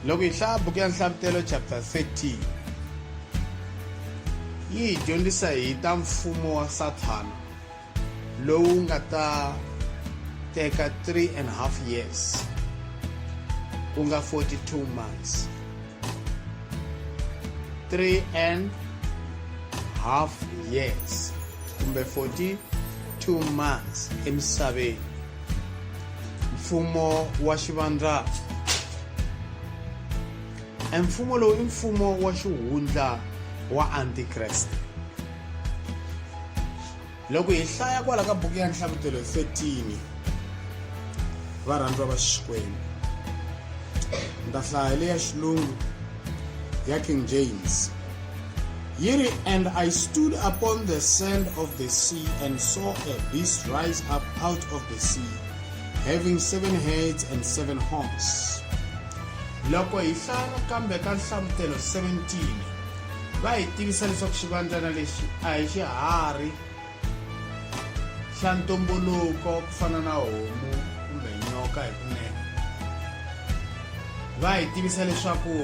loko hi hlaya buku ya nhlavutelo chapter 13 yi hi dyondzisa hi ta mfumo wa sathana lowu nga ta teka 3 and half years ku nga 42 months 3 and half years kumbe 42 months emisaveni mfumo wa xivandlana e mfumo lowu i mfumo wa xihundla wa antikreste loko hi hlaya kwala ka buku ya nhlavutelo 13 varhandziwa va xikwembu ni ta hlaya leya xilungu ya king james Yi ri, And I stood upon the sand of the sea, and saw a beast rise up out of the sea, having seven heads and seven horns. Loko hi hlaya nakambe ka Nhlamutelo 17, va hi tivisa leswaku xivandzana lexi a hi xiharhi, xa ntumbuluko ku fana na homu kumbe nyoka hi kunene va hi tivisa leswaku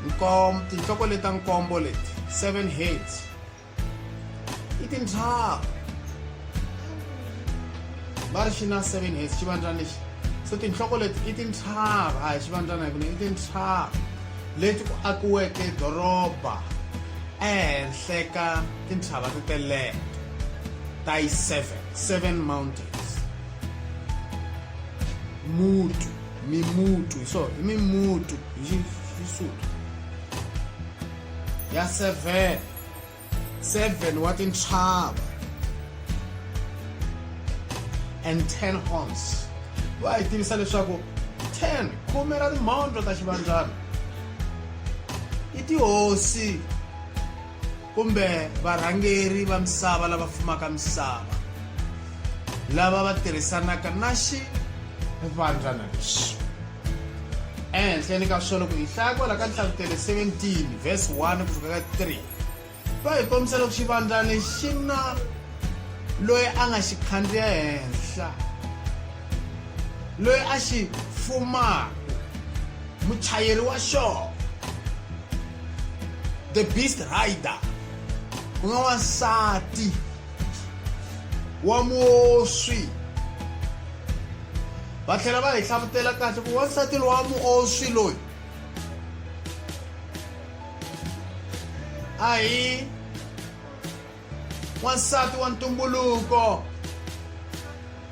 nkom tinhloko leta nkombo leti seven heads i tintlhaka va ri xi na seven heads xivandzana lexi so tinhloko leti i tintlhaka a hi xivandzana hi kunene i tintlhaka leti ku akiweke doroba ehenhla ka tintshava ti teleke ta yi seven seven mountains mutu mimutu hi so hi mimutu hi xisuthu ya seven 7 wa tintshava and 10 horns va hi tivisa leswaku 10 khume ra timhondlo ta xivandzana i tihosi kumbe varhangeri va misava lava fumaka misava lava va tirhisanaka na xivandzana lexi ehenhleni ka swona ku hi hlaya kwala ka nhlavutele 17 verse 1 ku fika ka 3 Va hi kombisa loko xivandzani xi na loyi a nga xi khandziya henhla loyi a xi fumaka muchayeri wa xona the beast rider ku nga wansati wa muoswi va tlhela va hi hlavutela kahle ku wansati lowa muoswi loyi a hi wansati wa ntumbuluko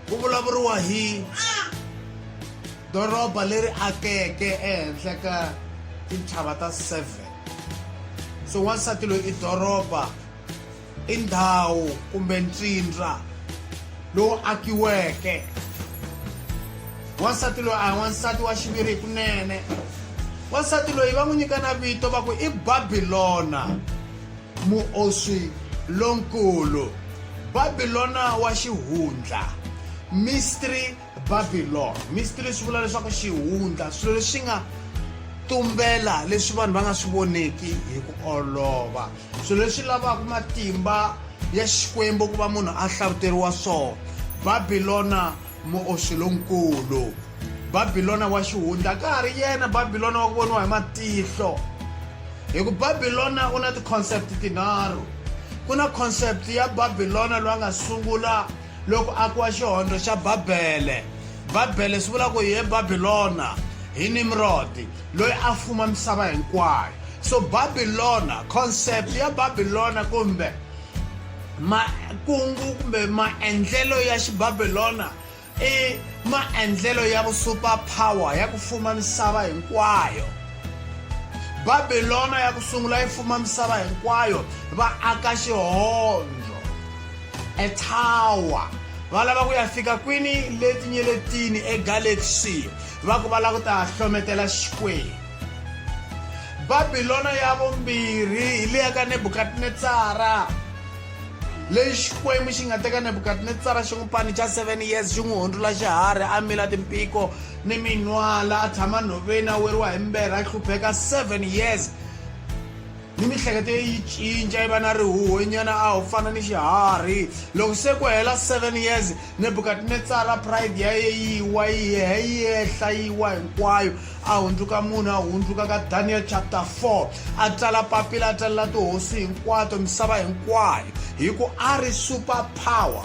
ku vulavuriwa hi doroba leri akeke ehenhla ka tintshava ta seven so wansati loyi i doroba i ndhawu kumbe ntsindza lowu akiweke wansati loyi a hi wansati wa xiviri hi kunene wansati loyi va n'wi nyika na vito va ku i babilona muoswi lonkulu babilona wa xihundla mystery Babylon mystery swi vula leswaku xihundla swilo leswi nga tumbela leswi vanhu va nga swi voneki hi ku olova swilo leswi lavaka matimba ya xikwembu ku va munhu a hlavuteriwa swona babilona muoxi lonkulu babilona wa xihundla ka ha ri yena babilona wa ku voniwa hi matihlo hi ku babilona u na ti-concept tinharhu ku na concept ya babilona loyi a nga sungula Loko a kiwa xihondo xa Babele, Babele swi vula ku hi Babilona, hi Nimrodi loyi a fuma misava hinkwayo. So Babilona, concept ya Babilona kumbe makungu kumbe maendlelo ya xibabilona i maendlelo ya vusuper power ya ku fuma misava hinkwayo babilona ya ku sungula yi fuma misava hinkwayo va aka xihondzo etower va lava ku ya fika kwini le tinyeletini egalaxy va ku va lava ku ta hlometela xikwembu babilona ya vumbirhi hi leya ka nebukadnetsara leyi xikwembu xi nga teka nebukadnetsara xi n'wi pani xa 7 years xi n'wi hundzula xiharhi a mila timpiko ni minwala a tshama nhoveni a weriwa hi mberha a hlupheka 7 years ni mihleketo ye yi cinca yi va na rihuhwenyana a wu fana ni xiharhi loko se ku hela 7 years nebukadnetsara pride ya ye yi wa yi he yi ehla yi wa hinkwayo a hundzuka munhu a hundzuka ka daniel chapter 4 a tsala papila a tsalela tihosi hinkwato misava hinkwayo hi ku a ri super power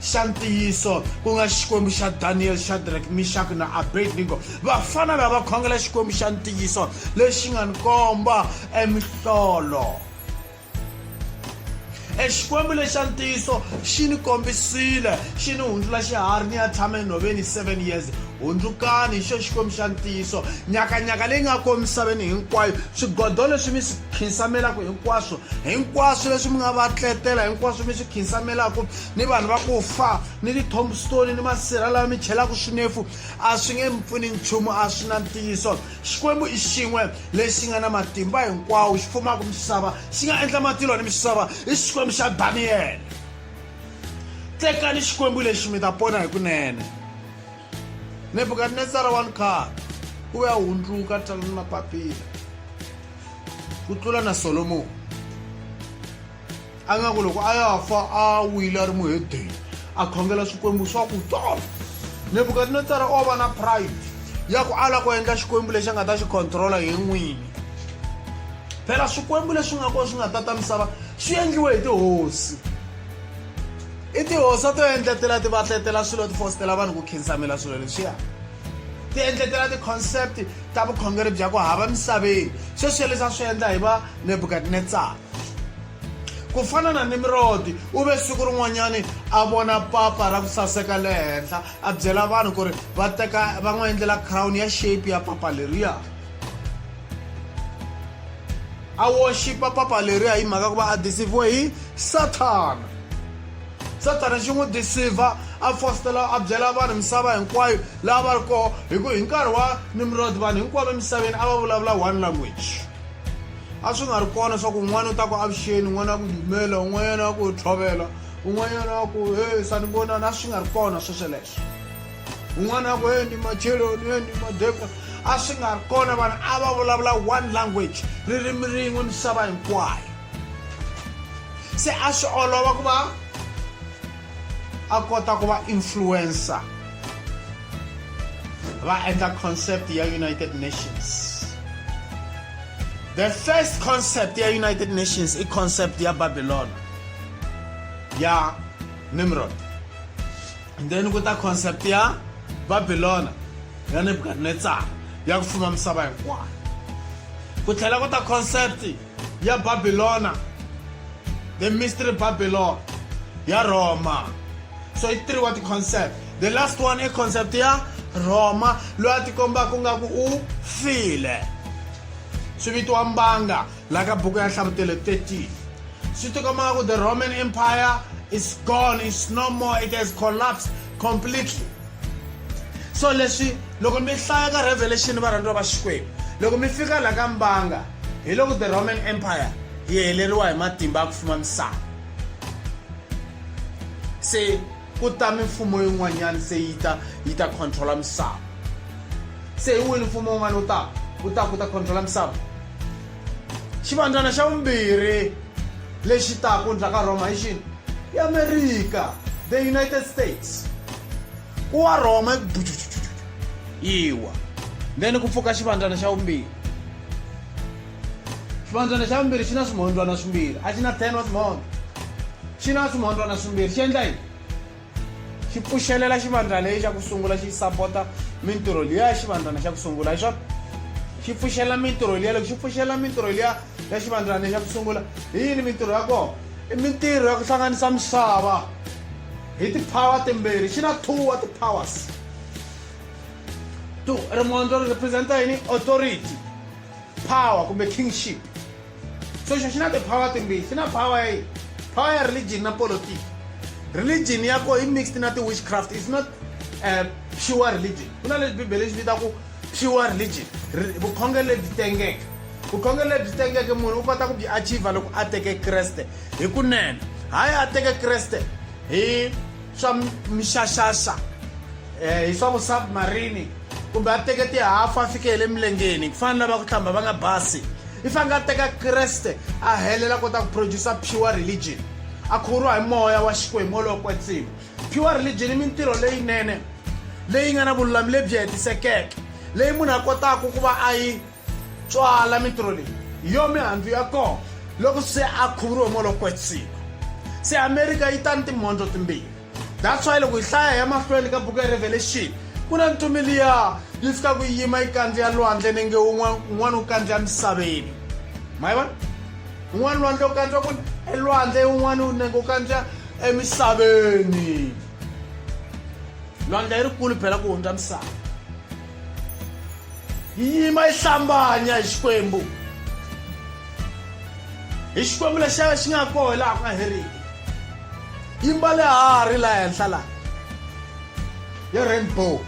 Xa ntiyiso, ku nga Xikwembu xa Daniyele, Shadrach, Mixaki na Abednego, vafana lava khongela Xikwembu xa ntiyiso lexi nga ni komba emihlolo. E Xikwembu lexa ntiyiso xi ni kombisile, xi ni hundzula xiharhi ni ya tshama enhoveni 7 years. Hundzukani, hi xo Xikwembu xa ntiyiso, nyakanyaka leyi nga ko emisaveni hinkwayo, swigodo leswi mi swi khinsamelaku hinkwaswo, hinkwaswo leswi mi nga va tletela, hinkwaswo mi swi khinsamelaku, ni vanhu va ku fa ni ti-tombstone ni masirha lawa mi chelaka swinefu a swi nge mi pfuni nchumu a swi na ntiyiso xikwembu i xin'we lexi nga na matimba hinkwawo xi fumaka misava xi nga endla matilo ni misava i xikwembu xa daniyele tekani xikwembu lexi mi ta pona hi kunene nebukadnetsara wa nkar u ve a hundzuka talani mapapila ku tlula na solomoni a nga ku loko a ya fa a wile a ri muhedeni a khongela swikwembu swa ku tolo nebukadinetsara o va na pride ya ku ala ku endla xikwembu lexi a nga ta xi controla hi n'wini phela swikwembu leswi nga kona swi nga tata misava swi endliwe hi tihosi i tihosi a to endletela ti va tletela swilo ti fositela vanhu ku khinsamela swilo leswiya ti endletela ti-concept ta vukhongeri bya ku hava misaveni sweswi leswi a swi endla hi va nebukadinetsara ku fana na nimirodi u ve siku rin'wanyani a vona papa ra ku saseka le henhla a byela vanhu ku ri va teka va n'wi endlela crown ya shape ya papa leriya a worshipa papa leriya hi mhaka ku va a disivhiwe hi sathana sathana xi n'wi disivha a fositela a byela vanhu misava hinkwayo laha va ri koho hi ku hi nkarhi wa nimrod vanhu hinkwavo emisaveni a va vulavula one language a swi nga ri kona swa ku un'wana u ta ku avuxeni un'wana a ku dumela un'wanyana a ku tlhovela un'wanyana a ku e sanibonani a swi nga ri kona sweswe leswo un'wana a ku e ni macheloni e ni madeka a swi nga ri kona vanhu a va vulavula one language ririmi rin'we misava hinkwayo se a swi olova ku va a kota ku va influencer va endla concept ya united nations the first concept ya united nations i concept ya babylon ya nimrod and then ku ta concept ya babylona ya nebukadnetsar ya ku fuma misava hinkwayo ku tlhela ku ta concept ya Babilona, the mystery Babylon ya Roma. So it's three what the concept. The last one is concept ya Roma loyi a tikombaka nga ku u file. Swi vitiwa mbanga la ka buku ya hlavutelo 13. Swi tikomba ku the Roman Empire is gone, it's no more, it has collapsed completely. So leswi loko mi hlaya ka Revelation varhandziwa va Xikwembu loko mi fika la ka mbanga hi loko the roman empire yi heleriwa hi matimba ya ku fuma misava se ku ta mimfumo yin'wanyana se yi ta yi ta controla misava se hi wini mfumo wun'wana wu taka wu ta ku ta controla misava xivandzana xa vumbirhi lexi taku ndzhaka rhoma hi xini i amerika the united states ku wa rhoma yiwa then ku pfuka xivandzana xa vumbirhi xivandzana xa vumbirhi xi na swimhondzwana swimbirhi a xi na ten wa swimhondza xi na swimhondzwana swimbirhi xi endla yini xi pfuxelela xivandzana lexi xa ku sungula xi sapota mintirho liya ya xivandzana xa ku sungula hi swona xi pfuxela mintirho liya loko xi pfuxela mintirho liya ya xivandzana xa ku sungula hi yini mintirho ya kona i mintirho ya ku hlanganisa misava hi ti-power timbirhi xi na two wa ti-powers two ri mondzo ri representa yini authority power kumbe kingship so xo xi na ti-power timbirhi xi na power ya power ya religion na politiki religion ya ko yi mixed na ti-witchcraft is not uh, pure religion ku na leswi bibele swi vita ku pure religion vukhongeri lebyi tengeke vukhongeri lebyi tengeke munhu u kota ku byi achiva loko a teke kreste hi kunene hayi a teke kreste hi swa mixaxaxa um hi swa vusubmarini kumbe a teke tihafu a fike hi le milengeni ku fana lava ku hlamba va nga basi i fanele a teka kreste a helela kota ku producer pure religion a khuvuriwa hi moya wa xikwembu wolowo kwetsima Pure religion i mintirho leyinene leyi nga na vululami lebyi hetisekeke leyi munhu a kotaka ku va a yi tswala mintirho leyi hi yo mihandzu ya kona loko se a khuvuriwe molokwetsiko se amerika yi tani timhondzo timbirhi that's why loko hi hlaya ya mahlweni ka buku ya revelation ku na ntumi liya yi fika ku yima yi kandziya lwandle nenge un'wana u kandziya misaveni ma yi vona un'wana lwandle u kandziwa ku elwandle un'wana u nenge u kandziwa emisaveni lwandle yi rikulu phela ku hundza misava yi yima yi hlambanya hi xikwembu hi xikwembu lexi xi nga koho laha ku nga heriki yi mbale hari laha henhla laha ya rainbow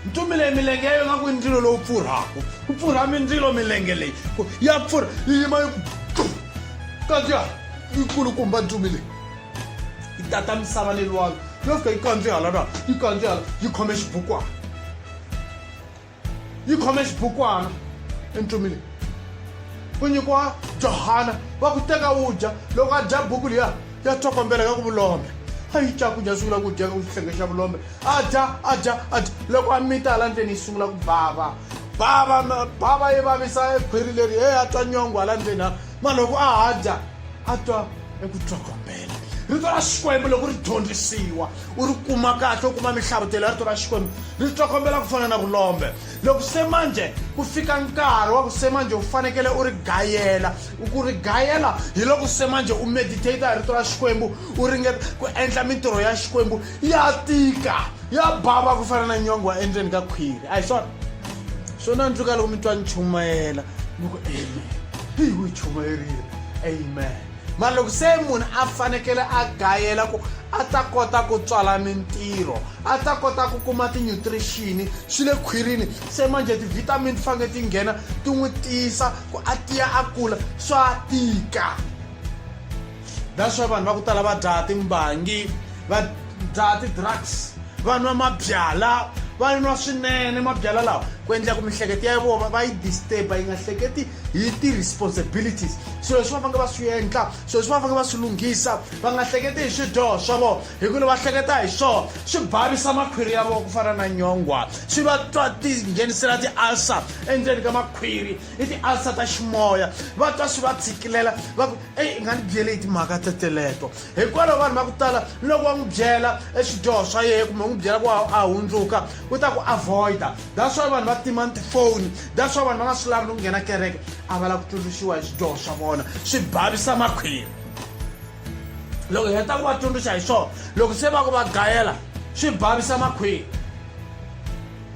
mi tumile milenge yayo nga ku i ndzilo lowu pfurhaku ku pfurha mindzilo milenge leyi ya pfurha yi yima yi kandziya yi kulukumba ndzumi leyi yi tata misava ni lwalo yo fika yi kandzihala na yi kandzihala yi khome xibukwana yi khome xibukwana endzumi leyi u nyikiwa johana va ku teka wu dya loko a dya buku liya ya tsokombela ka ku vulombe a yi cakudya sungula ku dya ka ku xihlenge xa vulombe a dya a dya a dya loko a mita hala ndleni yi sungula ku bava bava bava yi vavisa ekhwiri leri e a twa nyongo hala ndleni ha ma loko a ha dya a twa eku twakombela rito ra xikwembu loko ri dyondzisiwa u ri kuma kahle u kuma mihlavutelo ya rito ra xikwembu ri twakombela ku fana na vulombe loko se manje ku fika nkarhi wa ku se manje u fanekele u ri gayela ku ri gayela hi loko se manje u meditata hi rito ra xikwembu u ringeta ku endla mintirho ya xikwembu ya tika ya bava ku fana na nyongo wa endzeni ka khwiri a hi swona swo nandzuka loko mi twa ni chumayela ni ku amen hi wu chumayerile amen mara loko se munhu a fanekele a gayela ku a ta kota ku tswala mintirho a ta kota ku kuma tinutrition swi le khwirini se manje ti-vitamin ti fanele ti nghena ti n'wi tiyisa ku a tiya a kula swa tika that's why vanhu va ku tala va dzaha timbangi va dzaha ti-drugs va nwa mabyala va nwa swinene mabyala lawa ku endla ku mihleketo ya vona va yi disturba yi nga hleketi hi ti-responsibilities swilo leswi va fange va swi endla swilo leswi va fange va swi lunghisa va nga hleketi hi swidyoho swa vona hikuva va hleketa hi swona swi bhavisa makhwiri ya vona ku fana na nyongwa swi va twa tinghenisela ti-alcer endzeni ka makhwiri i tialsa ta ximoya va twa swi va tshikilela va ku eyi i nga ni byele hi timhaka teteleto hikwalaho vanhu va ku tala loko va n'wi byela eswidyoho swa yena kumbe n'wi byela ku a hundzuka u ta ku avoida that's why vanhu va tima ni tifoni that's why vanhu va nga swi lavi ni ku nghena kereke a va lava ku tsundzuxiwa hi swidyoho swa vona swi bhavisa makhwiri loko hi heta ku va tsundzuxa hi swona loko se va ku va gayela swi bhavisa makhwiri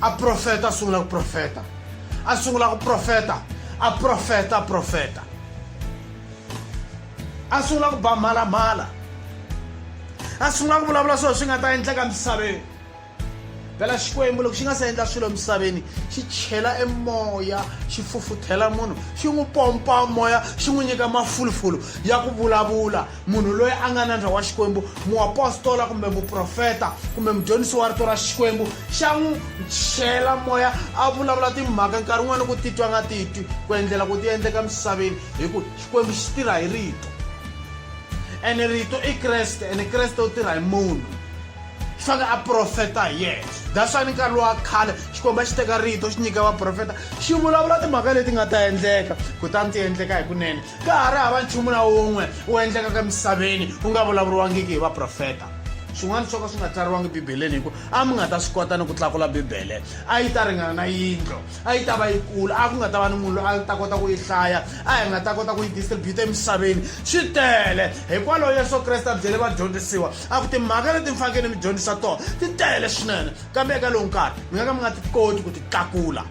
a profeta a sungula ku profeta a sungula ku profeta a profeta a profeta a sungula ku ba mhalamhala a sungula ku vulavula swilo swi nga ta endleka misaveni phela xikwembu loko xi nga se endla swilo emisaveni xi chela emoya xi fufuthela munhu xi n'wi pompa moya xi n'wi nyika mafulufulu ya ku vulavula munhu loyi a nga nandza wa xikwembu muapostola kumbe muprofeta kumbe mudyondzisi wa rito ra xikwembu xa n'wi chela moya a vulavula timhaka nkarhi wun'wana ku titwa nga titwi ku endlela ku ti endleka misaveni hi ku xikwembu xi tirha hi rito ene rito i kreste ene kreste u tirha hi munhu xi fanele a profeta hi yena that's why ni nkarhi lowa khale xikwembu a xi teka rito xi nyika vaprofeta xi vulavula timhaka leti nga ta endleka kutani ti endleka hi kunene ka ha ri hava nchumu na wun'we wu endlekaka emisaveni wu nga vulavuriwangiki hi vaprofeta swin'wana swo ka swi nga tsariwangi bibeleni hikuva a mi nga ta swi kota ni ku tlakula bibele a yi ta ringana na yindlo a yi ta va yi kula a ku nga ta va ni munhu loyi a ta kota ku yi hlaya a hi nga ta kota ku yi distributa emisaveni swi tele hikwalaho yesu kreste a byele vadyondzisiwa a ku timhaka leti mi fanekele mi dyondzisa tona ti tele swinene kambe eka lowu nkarhi mi nga ka mi nga ti koti ku ti tlakula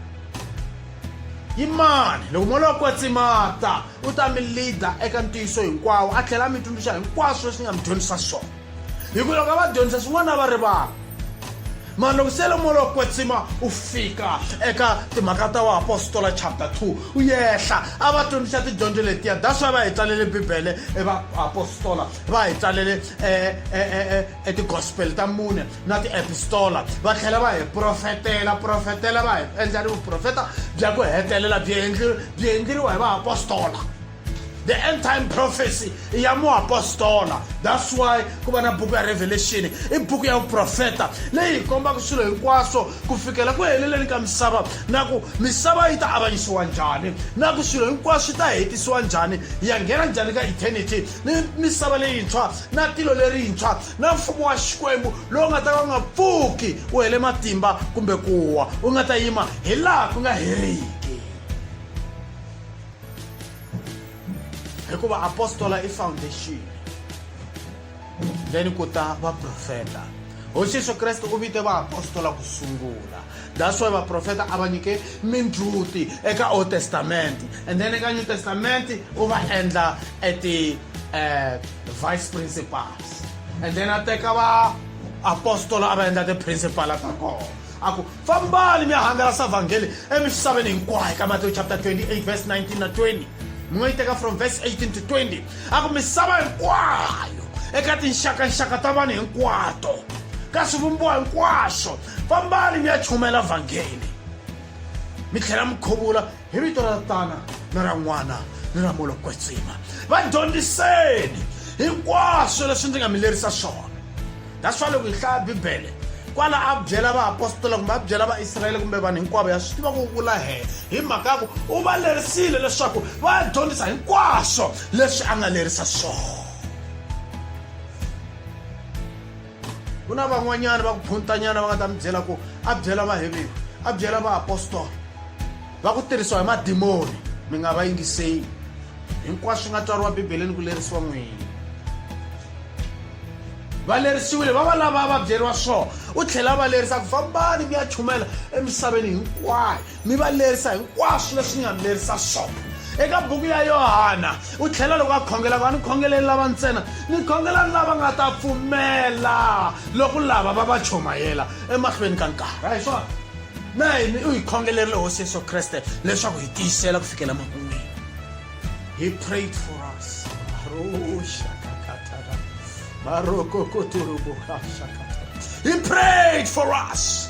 Yimani, loko moya wa kwetsima ta, u ta mi lida eka ntiyiso hinkwawo a tlhela a mi tsundzuxa hinkwaswo leswi ni nga mi dyondzisa swona hikuva loko a va dyondzisa swin'wana a va rivala mani loko se lomoya wa kwetsima u fika eka timhaka ta vaapostola chapter 2 u yehla a va tsundzuxa tidyondzo letiya that's why va hi tsalele bibele e vaapostola va hi tsalele um e, e, e, e tigospel ta mune na tiepistola va tlhela va hi profetela profetela va hi endla ni vuprofeta bya ku hetelela byi endli byi endleriwa hi vaapostola the end time prophecy i ya muapostola that's why ku va na buku ya revelation i buku ya vuprofeta leyi hi kombaka swilo hinkwaswo ku fikela ku heleleni ka misava na ku misava yi ta avanyisiwa njhani na ku swilo hinkwaswo swi ta hetisiwa njhani ya nghena njhani ka eternity ni misava leyintshwa na tilo lerintshwa na mfumo wa xikwembu lowu nga ta ka u nga pfuki u hele matimba kumbe ku wa u nga ta yima hi laha ku nga heriki hikuva apostola i foundation then ku ta vaprofeta hosi yesu kreste u vite vaapostola ku sungula that's why vaprofeta a va nyike mindzhuti eka old testament and then eka new testament u va endla at the uh, vice principals and then a teka va apostola a va endla tiprincipala ta kona a ku fambani mi ya hangalasa vhangeli emisaveni hinkwayo ka matewu chapter 28 verse 19 na 20 mi nga yi teka from verse 18 to 20 a ku misava hinkwayo eka tinxakanxaka ta vanhu hinkwato ka swivumbiwa hinkwaswo fambani mi ya chumela vhangeli mi tlhela mi khuvula hi vito ra tana ni ra n'wana ni ra mulo kwetsima va dyondziseni hinkwaswo leswi ndzi nga mi lerisa swona that's why loko hi hlaya bibele kwala a byela vaapostola kumbe a byela vaisrayele kumbe vanhu hinkwavo ya swi tiva ku vula hee hi mhaka ku u va lerisile leswaku va ya dyondzisa hinkwaswo leswi a nga lerisa swona ku na van'wanyana va ku phuntanyana va nga ta mi byela ku a byela vaheveni a byela vaapostola va ku tirhisiwa hi madimoni mi nga va yingiseli hinkwaswo swi nga tswariwa bibeleni ku lerisiwa n'wini va lerisiwile va va lava va byeriwa swona u tlhela va lerisa ku fambani mi ya chumela emisaveni hinkwayo mi va lerisa hinkwaswo leswi ni nga mi lerisa swona eka buku ya yohana u tlhela loko a khongela ku a ni khongeleli lava ntsena ni khongelani lava nga ta pfumela loko lava va va chomayela emahlweni ka nkarhi a hi swona na hini u hi khongelerile hosi yesu kreste leswaku hi tiyisela ku fikela makun'wini he prayed for us he prayed for us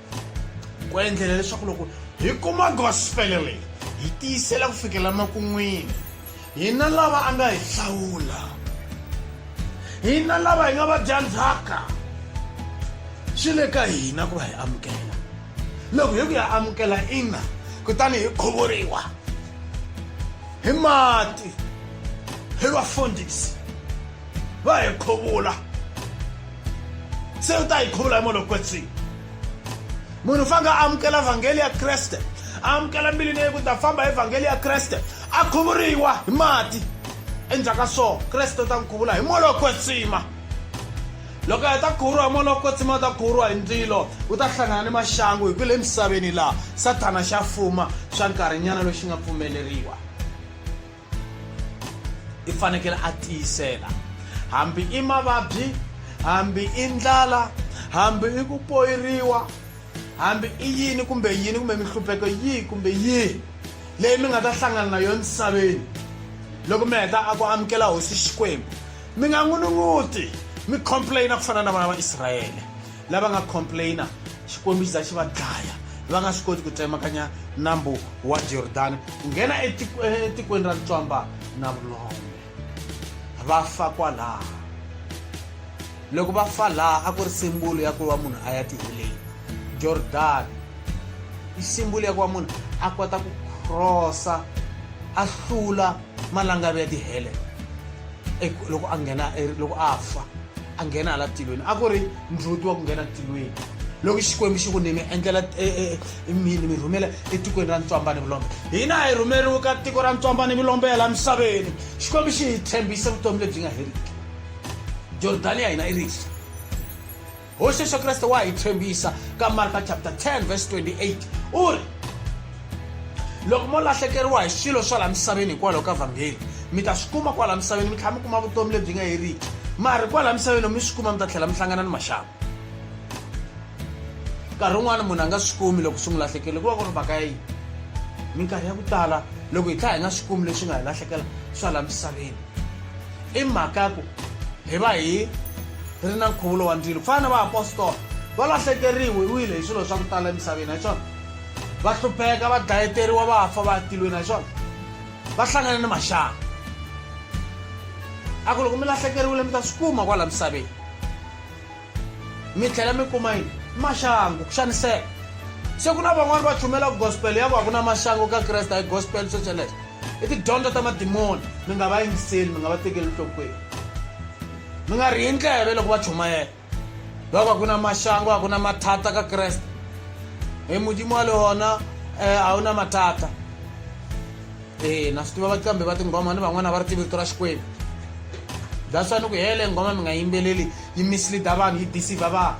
ku endlela leswaku loko hi kuma gospele leyi hi tiyisela ku fikela makun'wini hina lava a nga hi hlawula hina lava hi nga va dya ndzhaka swi le ka hina ku va hi amukela loko hi ku ya amukela ina kutani hi khuvuriwa hi mati hi vafundhisi va hi khuvula se u ta hi khuvula hi munhu loko kwetsini munhu u fanele a amukela vhangeli ya kreste a amukela mbilwini leyi ku ta famba hi vhangeli ya kreste a khuvuriwa hi mati endzhaku ka so kreste u ta n'wi khuvula hi moya wa kwetsima loko a heta khuvuriwa hi moya wa kwetsima u ta khuvuriwa hi ndzilo u ta hlangana ni maxangu hi ku le misaveni laha sathana xa fuma swa nkarhinyana loxi nga pfumeleriwa i fanekele a tiyisela hambi i mavabyi hambi i ndlala hambi i ku poyiriwa hambi i yini kumbe yini kumbe minhlupheko yihi kumbe yihi leyi mi nga ta hlangana na yona misaveni loko mi heta a ku amukela hosi xikwembu mi nga n'unun'uti mi complaina ku fana na vana va israyele Lava nga complainer Xikwembu xi za xi va dlaya va nga swi koti ku tsemakanya nambu wa Jordani ku nghena etikweni ra ntswamba na vulombe va fa kwalaho loko va fa laha a ku ri simbulu ya ku va munhu a ya tiheleni Jordani i simbulu ya ku va munhu a kota ku crossa a hlula malangavi ya tihele loko a nghena e, loko a fa a nghena hala tilweni a ku ri ndlhuti wa ku nghena tilweni loko xikwembu xi ku nimi endlela e, e, e, mini mi rhumela etikweni ra ntswamba ni vulombe hina hi rhumeriwe ka tiko ra ntswamba ni vulombe ya laha misaveni xikwembu xi hi tshembise vutomi lebyi nga heriki jordani ya hina i risa Hosi Yesu Kreste wa hi tshembisa ka Marka chapter 10 verse 28 u ri loko mo lahlekeriwa hi swilo swa laha misaveni hikwalaho ka vhangeli mi ta swi kuma kwalaha misaveni mi tlhela mi kuma vutomi lebyi nga heriki mari kwalaha misaveni loko mi swi kuma mi ta tlhela mi hlangana ni maxaku nkarhi wun'wana munhu a nga swi kumi loko swi n'wi lahlekele ku va ku ri mhaka ya yini minkarhi ya ku tala loko hi tlha hi nga swi kumi leswi nga hi lahlekela swa laha misaveni I mhaka ya ku hi va hi ri na nkhuvulo wa ndzilo. Ku fana na vaapostola, va lahlekeriwile hi swilo swa ku tala emisaveni, a hi swona? Va hlupheka, va dlayeteriwa, va fa va ya tilweni, a hi swona? Va hlangana ni maxangu. A ku loko mi lahlekeriwile mi ta swi kuma kwala misaveni. mi tlhela mi kuma yini maxangu ku xaniseka se ku na van'wani va chumela gospel ya ku a ku na maxangu ka kreste a hi gospel swo sweleswo i tidyondzo ta madimoni mi nga va yingiseli mi nga va tekeli nhlokweni mi nga rihi ndleve loko va chumayela loko a ku na maxangu a ku na mathata ka kreste hi modimo wa le wona um a wu na mathata e na swi tiva va kambe va tinghoma ni van'wana va ri tivi rito ra xikwembu that's why ni ku hele nghoma mi nga yimbeleli yi misleader vanhu yi deceiver vanhu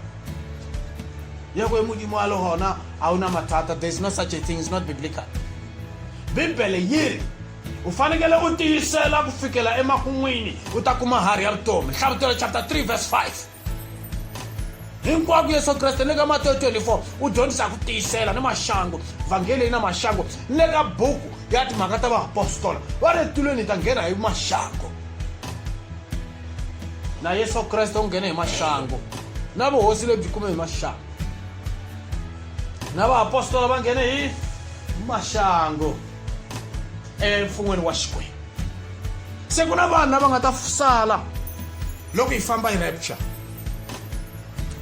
yeko hi mudimu wa lohona a wu na mathata there is no such a thing is not biblical bibele yi ri u fanekele u tiyisela ku fikela emakun'wini u ta kuma hari ya vutomi nhlavutelo chapter 3 verse 5 hinkwako yesu kreste ni le ka mateyo 24 u dyondzisa ku tiyisela ni maxangu vhangeli yi na maxangu ni le ka buku ya timhaka ta vaapostola va le tilweni hi ta nghena hi maxangu na yesu kreste u nghene hi maxangu na vuhosi lebyi kume hi maxangu na vaapostola va nghene hi maxangu emfun'weni wa xikwembu se ku na vanhu lava nga ta sala loko hi famba hi rapture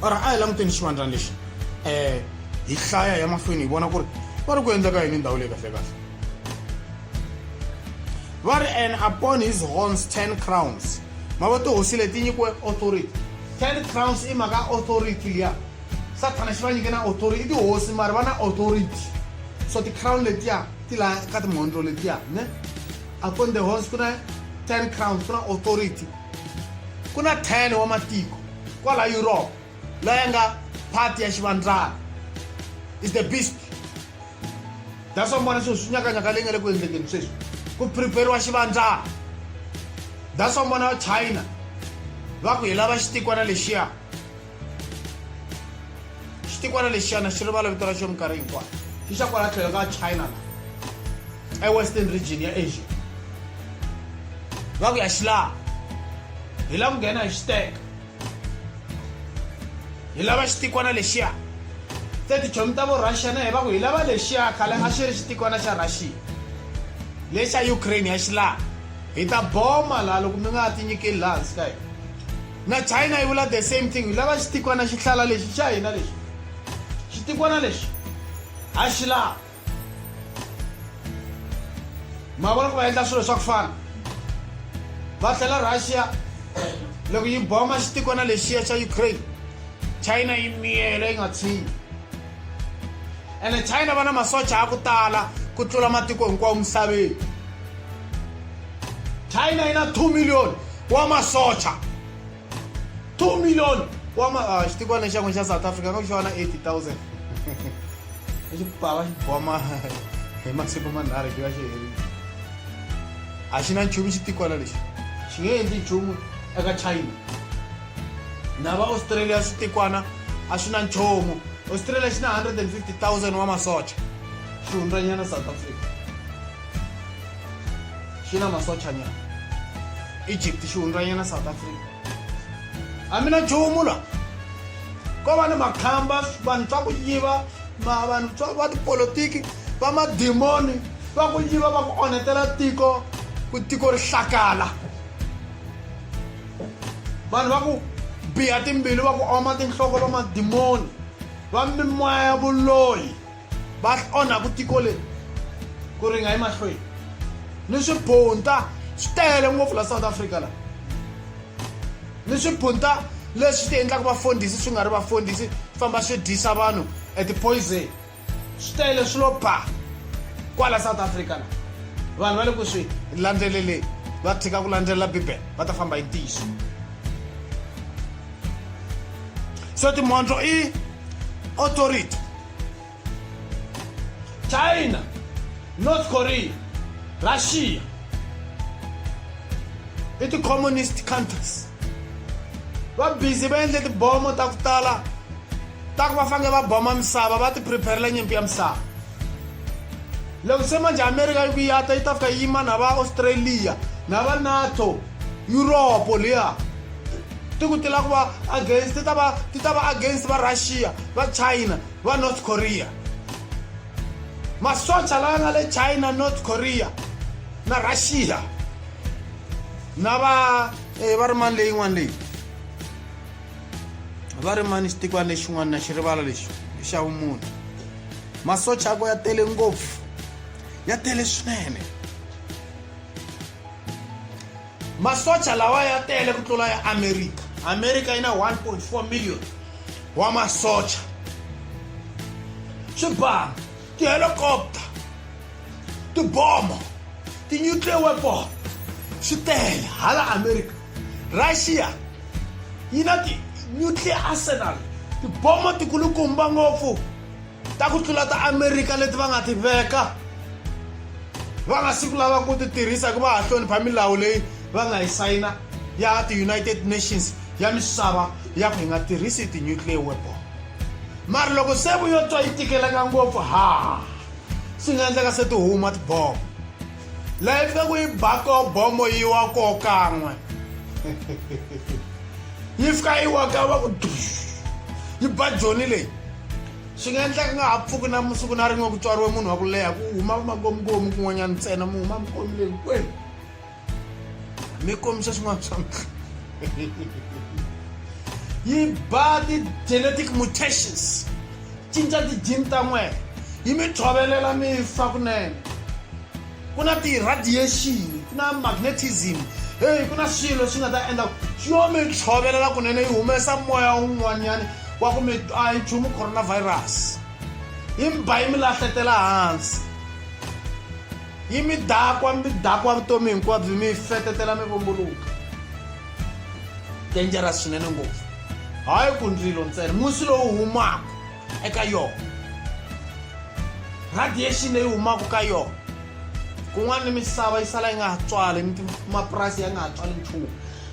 or a hi languteni xivandlani lexi um hi hlaya ya mahlweni hi vona ku ri va ri ku endleka yini ndhawu leyi kahlekahle va ri and upon his horns 10 crowns ma vo tihosi leti nyikiwe authority 10 crowns i mhaka authority liya sathana xi va nyike na authority i tihosi mari va na authority so ti-crown letiya ti la ka timhondlo letiya ne upon the horns ku na 10 crowns ku na authority ku na 10 wa matiko kwala europe la ya nga part ya xivandlana is the beast that's why mi vona swilo swi nyakanyaka leyi nga le ku endlekeni sweswi ku prepariwa xivandzana that's why mi vona china va ku hi lava xitikwana lexiya xitikwana lexiyana xi rivala vito ra xo minkarhi hinkwayo xi xa kwala tlhelo ka china la ewestern region ya asia va ku ya xi laha hi la ku nghena hi xiteka hi lava xitikwana lexiya se tichomi ta vorussia na hi va ku hi lava lexiya khale a xi ri xitikwana xa russia lexa ukraine ya xi laha hi ta boma laha loko mi nga ha tinyikeli laha hansi ka hina na china yi vula the same thing hi lava xitikwana xihlala lexi xa hina lexi xitikwana lexi a xi laha ma vona ku va endla swilo swa ku fana va tlhela russia loko yi boma xitikwana lexiya xa ukraine china yi miyela yi nga tshinyi ene china va na masocha ya ku tala ku tlula matiko hinkwawo misaveni china yi na 2 million wa masocha 2 million wa ma ah, xitikwana xa n'wina xa south africa nga ku xi va na 80000 i xipava xi boma hi masiku manharhu xi va xi herile a xi na nchumu xitikwana lexi xi nge endli nchumu eka china na va australia switikwana a swi na nchumu australia xi na 150000 wa masocha xi hundzanyana south africa xi na masochanyana egypt xi hundzanyana south africa a mi na nchumu la ko va ni makhamba vanhu swa ku yiva vanhu swa va tipolotiki va madimoni va ku yiva va ku onhetela tiko ku tiko ri hlakala vanhu va ku biha timbilu va ku oma tinhloko va madimoni va mimoya ya vuloyi va onha ku tiko leri ku ri nga emahlweni ni swibunta swi tele ngopfu la south africa la ni swibunta leswi ti endlaka vafundhisi swi nga ri vafundhisi famba swi dyisa vanhu at poison swi tele swi lo ba kwala south africa la vanhu va le ku swi landzeleleni va tshika ku landzelela bibele va ta famba hi ntiyiso so timhondzo i authority china north korea russia i ti-communist countries va busy va endle tibomo ta ku tala ta ku va fanele va boma misava va ti preparela nyimpi ya misava loko se manje amerika yi ku yata yi ta fika yi yima na va australia na va nato yuropo liya ti ku ti lava ku va against ti ta va ti ta va against va russia va china va north korea masocha lawa nga le china north korea na russia na va eh, va ri mani leyin'wana leyi va ri mani xitikwana lexin'wana na xi rivala lexi xa vumunhu masocha ako ya tele ngopfu ya tele swinene masocha lawa ya tele ku tlula ya amerika amerika yi na 1.4 million wa masocha swibanga tihelikopta tiboma ti-nuclear weapon swi tele hala amerika russia yi na ti-nuclear arsenal tiboma tikulukumba ngopfu ta ku tlula ta amerika leti va nga ti veka va nga siku lava ku ti tirhisa hikuva ha hlonipha milawu leyi va nga yi sayina ya ti-united nations ya misava ya ku hi nga tirhisi ti-nuclear weapon mara loko se vuyo twa yi tikeleka ngopfu ha swi nga endleka se ti huma tibomo laha yi fika ku yi ba ko bomo yi wa ko kan'we yi fika yi wa ka va ku yi ba joni leyi swi nga endleka nga ha pfuki na musiku na rin'we ku tswariwe munhu wa ku leha ku huma vamakomukomu kun'wanyana ntsena mu huma mikomi leyi kwenu mi kombisa swin'wana swa mihla yi ba ti-genetic mutations cinca ti-gene ta n'wena yi mi tshovelela mi fa kunene ku na ti-radiation ku na magnetism heyi ku na swilo leswi nga ta endla xi yo mi tshovelela kunene yi humesa moya wun'wanyana wa ku mi a yi nchumu coronavirus yi mi ba yi mi lahletela hansi yi mi dakwa mi dakwa vutomi hinkwabyo mi fetetela mi vumbuluka dangerous swinene ngopfu hayi ku ndzilo ntsena musi lowu humaka eka yona radiation leyi humaka ka yona kun'wana ni misava yi sala yi nga ha tswali ni mapurasi ya nga ha tswali nchumu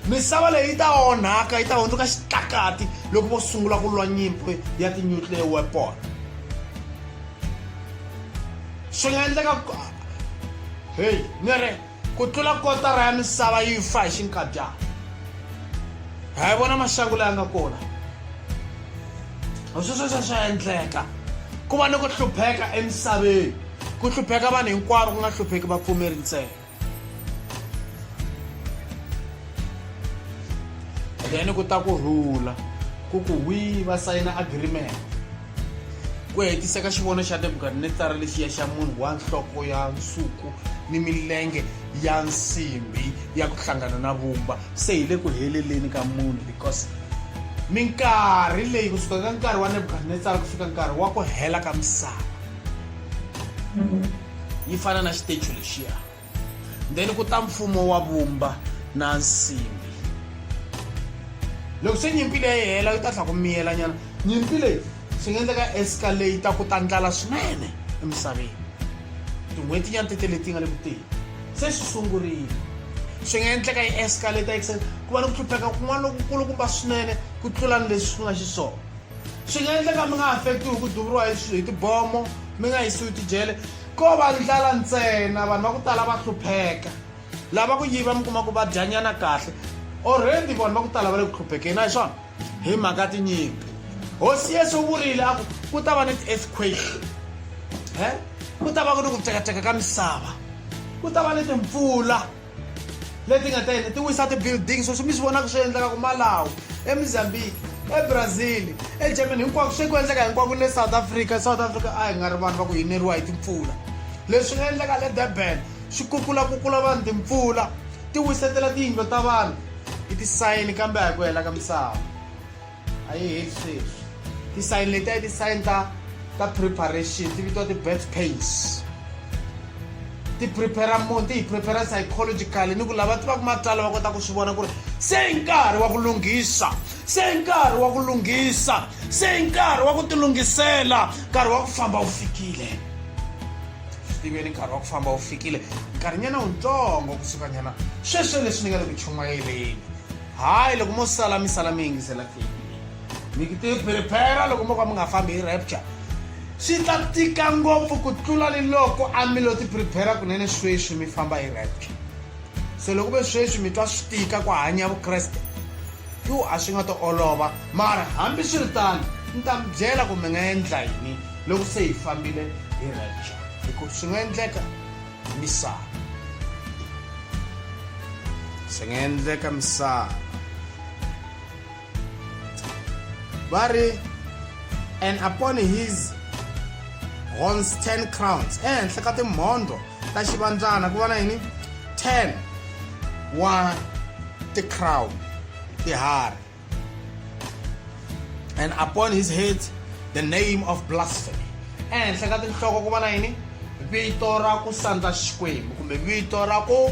misava leyi yi ta onhaka yi ta hundzuka xitlakati loko vo sungula ku lwa nyimpi ya ti-nuclear weapon swi nga endleka heyi ni ri Ku tlula kotara ya misava yi fa hi xinkadyana. Ha yi vona maxangu laya nga kona. Swesweswo swa endleka. Ku va ni ku hlupheka emisaveni. Ku hlupheka vanhu hinkwavo ku nga hlupheki vapfumeri ntsena. Then ku ta ku rhula ku ku hwii va sayina agreement. ku hetisa ka xivono xa nebukadnetsara lexiya xa munhu wa nhloko ya nsuku ni milenge ya nsimbi ya ku hlangana na vumba se hi le ku heleleni ka munhu because minkarhi leyi kusuka ka nkarhi wa nebukadnetsara ku fika nkarhi wa ku hela ka misava yi fana na xitecho lexiya then ku ta mfumo wa vumba na nsimbi loko se nyimpi leyi yi hela yi ta tlha ku miyelanyana nyimpi leyi swi nga endleka escalate ku ta ndlala swinene emisaveni tin'hweti nyana tete leti nga le ku teni se swi sungurile swi nga endleka yi escalate exen ku va ni ku hlupheka kun'wana lokukulu kumba swinene ku tlula ni leswi swi nga xiswona swi nga endleka mi nga affectiwi hi ku duvuriwa hi tibomo mi nga yisiwi tijele Ko va ndlala ntsena, vanhu va ku tala va hlupheka. Lava ku yiva mi kuma ku va dyanyana kahle. Already vanhu va ku tala va le ku hluphekeni, a hi swona? Hi mhaka tinyimpi. Hosi Yesu u vurile a ku ku ta va ni ti-earthquake, ku ta va ku ni ku cekaceka ka misava, ku ta va ni timpfula. leti nga ta yini ti wisa ti-building sweswi mi swi vonaka swi endleka kumalawu emozambique ebrazil egermany hinkwako swi ku endleka hinkwako le south africa south africa a hi nga ri vanhu va ku yineriwa hi timpfula leswi nga endleka le durban swi kukulakukula vanhu timpfula ti wisetela tiyindlo ta vanhu i tisayini kambe a hi ku hela ka misava a yi heli sweswi ti-sign leti a ti sign ta ta preparation ti vitiwa ti-birth pains ti prepare munhu ti hi prepare psychologically ni ku lava tivaka matsalwa va kota ku swi vona ku ri se i nkarhi wa ku lunghisa se i nkarhi wa ku lunghisa se i nkarhi wa ku tilunghisela nkarhi wa ku famba wu fikile swi tiveni nkarhi wa ku famba wu fikile nkarhinyana wutsongo kusuka nyana sweswo leswi ni nga le ku chumayeleni hayi loko mo sala mi sala mi yingisela tape mi ti prepare loko mo ka mi nga fambi hi rapture swi ta tika ngopfu ku tlula ni loko a mi lo ti prepare kunene sweswi mi famba hi rapture se loko ve sweswi mi twa swi tika ku hanya vukreste yo a swi nga to olova mara hambi swi ri tano ni ta mi byela ku mi nga endla yini loko se hi fambile hi rapture hikuva swi nga endleka misava swi nga endleka misava va ri and upon his horns 10 crowns ehenhla ka timhondlo ta xivandzana ku va na yini 10 wa ti-crown tiharhi and upon his head the name of blasphemy ehenhla ka tinhloko ku va na yini vito ra ku sandza xikwembu kumbe vito ra ku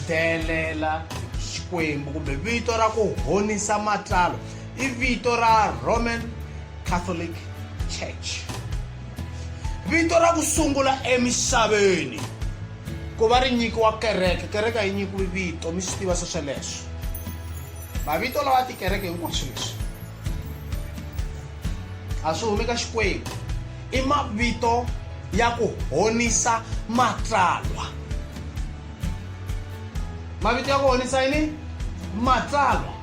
delela xikwembu kumbe vito ra ku honisa matlalo i vito ra roman catholic church vito ra ku sungula emisaveni ku va ri nyikiwa kereke kereke yi nyikiwe vito mi swi tiva swesweleswo Mavito lawa ya tikereke hinkwaswo leswi a swi humi ka Xikwembu i mavito ya ku honisa matsalwa mavito ya ku honisa yini matsalwa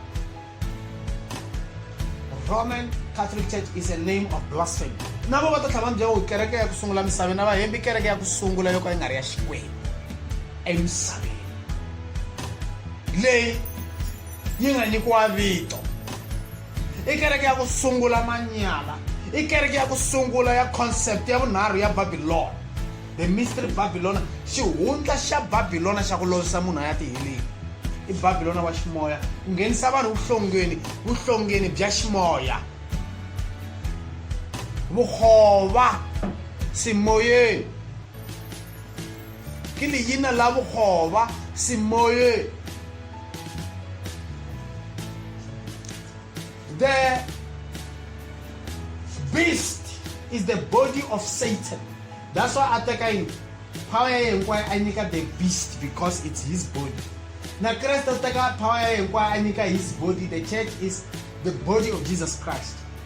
roman catholic church is a name of blasphemy na vo va ta tlhava ni byela ku kereke ya ku sungula misaveni na vahembi kereke ya ku sungula yo ka yi nga ri ya xikwembu emisaveni leyi yi nga nyikiwa vito i kereke ya ku sungula manyala i kereke ya ku sungula ya concept ya vunharhu ya babilona the mystery babilona xihundla xa babilona xa ku lovisa munhu a ya tiheleni i babilona wa ximoya ku nghenisa vanhu vuhlongeni vuhlongeni bya ximoya vukhova simoyeni ke leina la bokgoba semoye the beast is the body of satan that's why a teka yini power ya yena kwayo a nyika the beast because it's his body na kreste u teka power ya yena kwayo a nyika his body the church is the body of jesus christ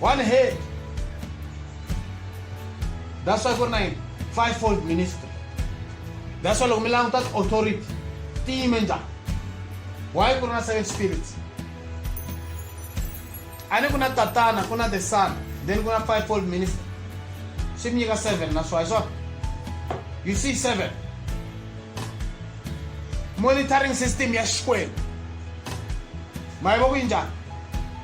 one head that's why ku ri na yini five fold ministry that's why loko mi languta ti-authority ti yime njhani why ku ri na seven spirits a ni ku na tatana ku na the son then ku na five fold ministry swi mi nyika seven na swa hi swona you see seven monitoring system ya xikwembu ma yi va ku yi njhani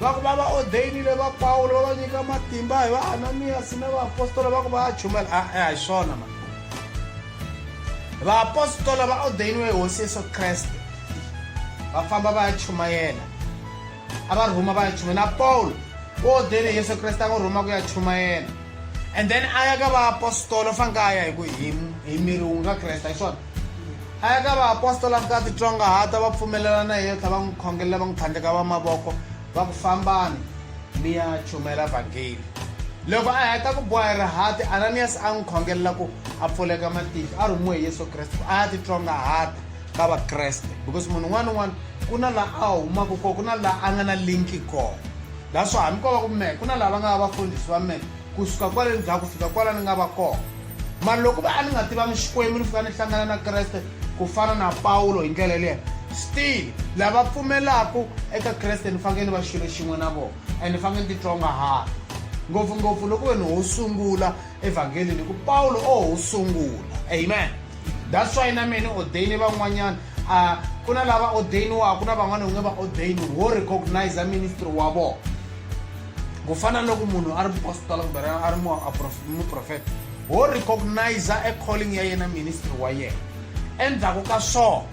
Va ku va va odeyinile va Pawulo va va nyika matimba hi va Ananiyasi na vaapostola va ku va ya chumela a a hi swona ma vaapostola va odeyiniwe hi hosi yesu kreste va famba va ya chumayela a va rhuma va ya chuma na pawulo u odele hi yesu kreste a n'wi rhuma ku ya chumayela and then a ya ka vaapostola u faneke a ya hi ku hi hi miri wu nga kreste hi swona a ya ka vaapostola ku ta titsongahata va pfumelela na yeyo tlha va n'wi khongelela va n'wi tlhandleka va mavoko va ku fambani mi ya chumela vhangeli loko a heta ku boha hi rihati ananiyasi a n'wi khongelela ku a pfuleka matihlo a rhumiwe hi yesu kreste a ya titsongahata ka vakreste because munhu un'wana un'wana ku na laha a humaka kona ku na laha a nga na linki kona laha swo hambi ko va ku mehe ku na laha va nga va vafundhisi va mehe Ku suka kwale ni za ku fika kwala ni nga va kona. Mara loko ku ve a ni nga tivanga Xikwembu ni fika ni hlangana na Kreste ku fana na Pawulo hi ndlela yaleyo, still lava pfumelaka eka Kreste ni fanekele ni va xilo xin'we na vona and ni fanekele ni titsongahata, ngopfungopfu loko ku ve ni ho sungula evhanghelini hi ku Pawulo o ho sungula. Amen. That's why na mehe ni ordaine van'wanyana a ku na lava ordainiwaka na van'wana u nge va ordaini wo recognize ministry wa vona. ku fana loko munhu a ri mupositola kumbe a ri muprofeta wo recognize e calling ya yena ministry wa yena endzhaku ka swona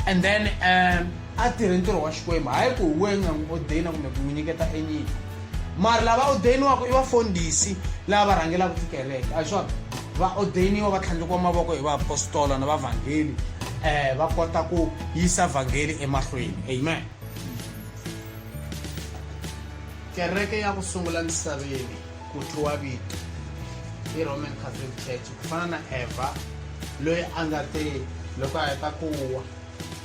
and then um a tirhe ntirho wa xikwembu hayi ku we nga n'wi odeyina kumbe ku n'wi nyiketa enyiko mara lava odeyiniwaka i vafundhisi lava va rhangelaka tikereke a hi swona va odeyiniwa va tlhandlekiwa mavoko hi vaapostola na vavhangeli um va kota ku yisa vhangeli emahlweni amen kereke ya ku sungula misaveni ku thyiwa vito i roman catholic church ku fana na eva loyi a nga te loko a heta ku wa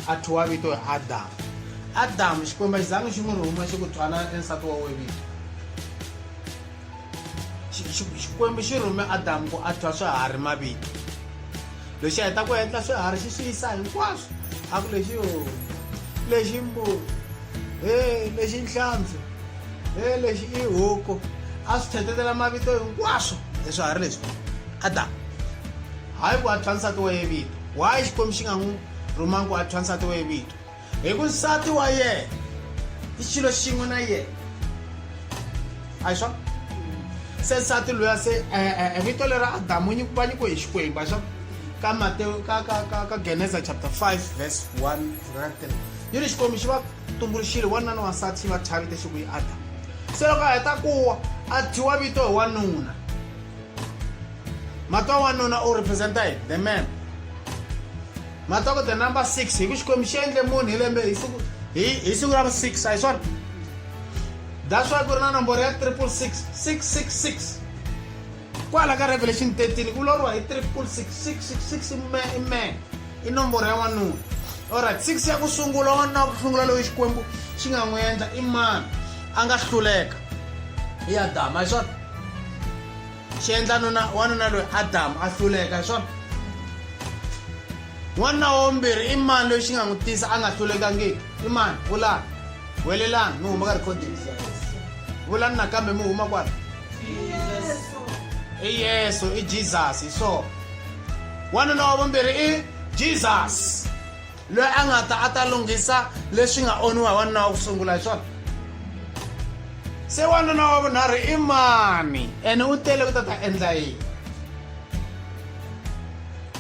a thyiwa vito hi adamu adamu xikwembu a xi zangi xi n'wi rhuma xi ku thwana ensati wa wevito xikwembu xi rhume adamu ku a thwa swiharhi mavito lexi a heta ku endla swiharhi xi swi yisa hinkwaswo a ku lexi o lexi mbuku he lexi nhlampfi he lexi i huku a swi thetetela mavito hinkwaswo hi swiharhi leswi adamu hayi ku a thwa nsati wa ye vito why xikwembu xi nga n'wi rhumangi ku a thwa nsati wa ye vito hi ku nsati wa yena i xilo xin'we na yena a hi swona se nsati loya se eh, eh, eh, vito lera adamu nyi- va nyikiwe hi xikwembu a swa ka mateo ka ka ka ka geneza chapter 5 verse 1 ra 3 yi ri xikwembu xi va tumbuluxile wanuna ni wansati xi va chavite xi ku yi adamu se loko a heta kuwa a thyiwa vito hi wanuna matwa wanuna u representa yini the man Matoko the number 6 hi ku Xikwembu xi endle munhu hi lembe hi siku hi hi siku ra 6 a hi swona that's why ku ri na nomboro ya 666 666 kwala ka revelation 13 ku loriwa hi 666 ime ime i nomboro ya n'wanuna olright 6 ya ku sungula wanuna wa ku sungula loyi xikwembu xi nga n'wi endla i mani a nga hluleka i adama hi swona xi endla nuna wanuna loyi adamu a hluleka hi swona n'wanuna wombirhi i mani loyi xi nga n'wi tisa a nga hlulekangiki i mani vulani welelani mi huma ka recording vulani nakambe mi huma kwala i yesu i jesus hi swona wanuna wa vumbirhi i jesus loyi a nga ta a ta lunghisa leswi nga onhiwa hi wanuna wa ku sungula hi swona se wanuna wa vunharhu i mani ene u tele ku ta ta endla yini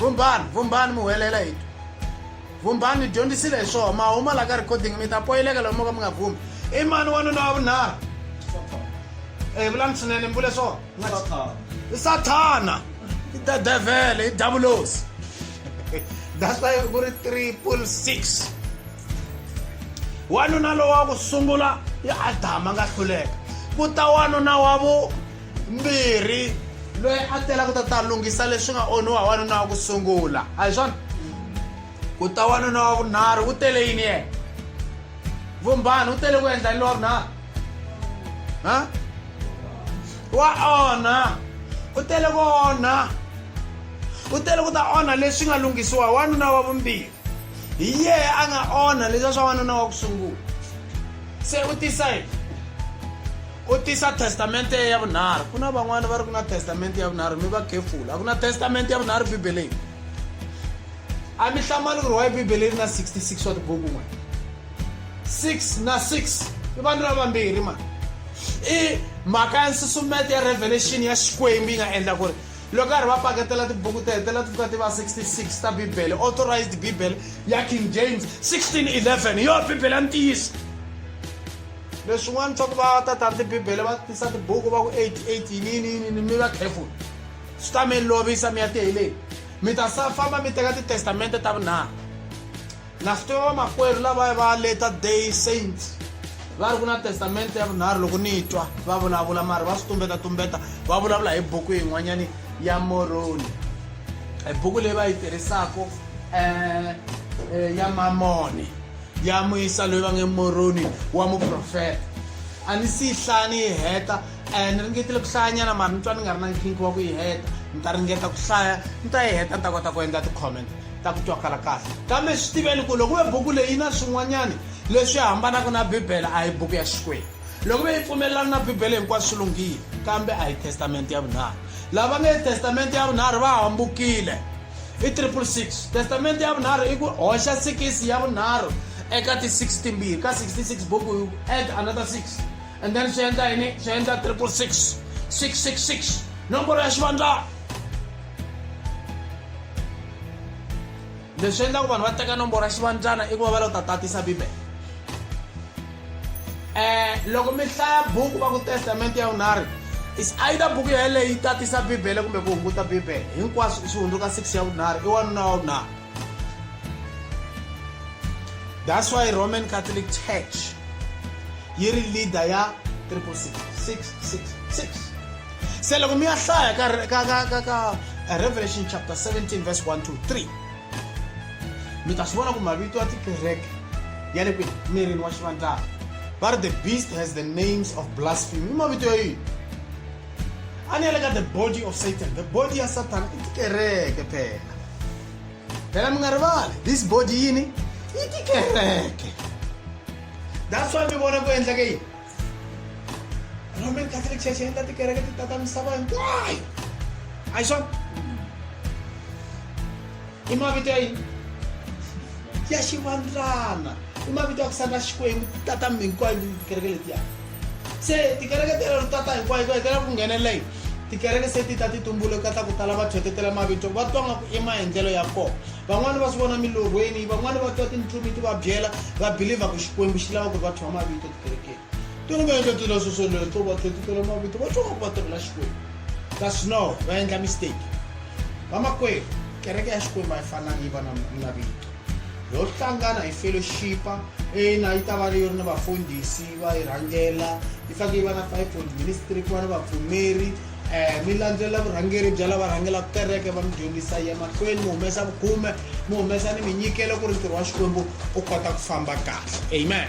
vumbhani vumbhani mi huwelela hi vumbhani ni dyondzisile hi swona ma huma la ka recording mi ta poyileka lomu mo ka mi nga vumi i mani wanuna wa vunharhu e vulani swinene mi vule swona i sathana i the devil i davulos that's why ku ri triple six wanuna lowa ku sungula i adama nga hluleka ku ta wanuna wa vu mbirhi loyi a tela ku ta ta lunghisa leswi nga onhiwa wanuna wa ku sungula a hi swona ku ta wanuna wa vunharhu u tele yini yena vumbhani u tele ku endla ni lowa vunharhu ha wa onha u tele ku onha u tele ku ta onha leswi nga lunghisiwa wanuna wa vumbirhi hi yehe a nga onha leswa swa wanuna wa ku sungula se u tisa yini u tisa testamente ya vunharhu ku na van'wana va ri ku na testamente ya vunharhu mi va careful a ku na testamente ya vunharhu bibeleni a mi hlamali ku ri wa bibele ri na 66 wa tibuku n'wana 6 na 6 i vanhu lava vambirhi mani i mhaka ya nsusumeto ya revelation ya xikwembu yi nga endla ku ri loko karhi va paketela tibuku ti hetelela ti pfuka ti va 66 ta bibele authorized bibele ya king james 1611 hi yona bibele ya ntiyiso leswin'wana swa ku va tatani tibibele va tisa tibuku va ku 88 yininiyinini mi va careful swi ta mi lovisa mi ya tiheleni mi ta sa famba mi teka titestamente ta vunharhu Na swi tiva vamakwerhu lavaya va later day saints va ri ku na testamente ya vunharhu loko ni twa va vulavula mari va swi tumbeta tumbeta va vulavula hi buku yin'wanyani ya moroni hi buku leyi va yi tirhisaka um eh, eh, ya mamoni ya muyisa loyi va nge moroni wa muprofeta a ni si yi hlaya ni yi heta um ni ringetile ku hlayanyana mari ni twa ni nga ri na nkhinki wa ku yi heta ni ta ringeta ku hlaya ni ta yi heta ni ta kota ku endla ti-comment ta ku twakala kahle. Kambe swi tiveni ku loko ve buku leyi yi na swin'wanyana leswi hambanaka na Bibele a hi buku ya Xikwembu. Loko ve yi pfumelelana na Bibele hinkwaswo swi lunghile, kambe a hi Testamente ya Vunharhu. Lava nge Testamente ya Vunharhu va hambukile. I triple six. Testamente ya Vunharhu i ku hoxa sikisi ya vunharhu eka ti-six timbirhi ka 66 buku add another six. and then swi endla yini swi endla triple six six six six nomboro ya xivandla leswi endlaku vanhu va teka nomboro ya xivandlana i ku va va lo ta tatisa bibele um loko mi hlaya buku va ku testamente ya vunharhu is either buku yeleyi yi tatisa bibele kumbe ku hunguta bibele hinkwaswo swi hundzuka six ya vunharhu i wanuna wa vunharhu that's why roman catholic church yi ri leader ya triple six six six six se loko mi ya hlaya ka ka ka ka ka eh, revelation chapter 17 verse 1 to 3 mi ta swi vona ku mavito ya tikereke ya le kwini mirini wa xivandlana va ri the beast has the names of blasphemy i mavito ya yini a ni yale ka the body of satan the body ya sathana i tikereke phela phela mi nga rivali this body yini yi tikereke that's why mi vona ku endleke yini roman catholic church yi endla tikereke ti tata misava hinkwayo a yi swona i mavito ya yini ya xivandlana i mavito ya ku sala xikwembu tata mi hinkwayo tikereke letiya se tikereke ti rutata hinkwayo hinkwayo ti lava ku nghenelela yini tikereke se ti ta ti tumbule katla ku tala va thwetetela mavito va twa nga ku i maendlelo ya kona van'wani va swi vona milorhweni van'wani va twa tintlumi ti va byela va belivha ku xikwembu xi lava ku ri va thwa mavito tikerekeni tolo va endla tila swoswoleo to va thwetetela mavito va twa nga ku va tirhela xikwembu kasi no va endla mistake vamakwerhu kereke ya xikwembu a yi fanangi yi va na vito yo hlangana hi fellowshipa ina yi ta va leyi ri ni vafundhisi va yi rhangela yi fanele yi va na fivefold ministry ku va ni vapfumeri um mi landzelela vurhangeri bya lava rhangelaka kereke va mi dyondzisa ya mahlweni mi humesa vukhume mi humesa ni minyikelo ku ri ntirho wa xikwembu u kota ku famba kahle amen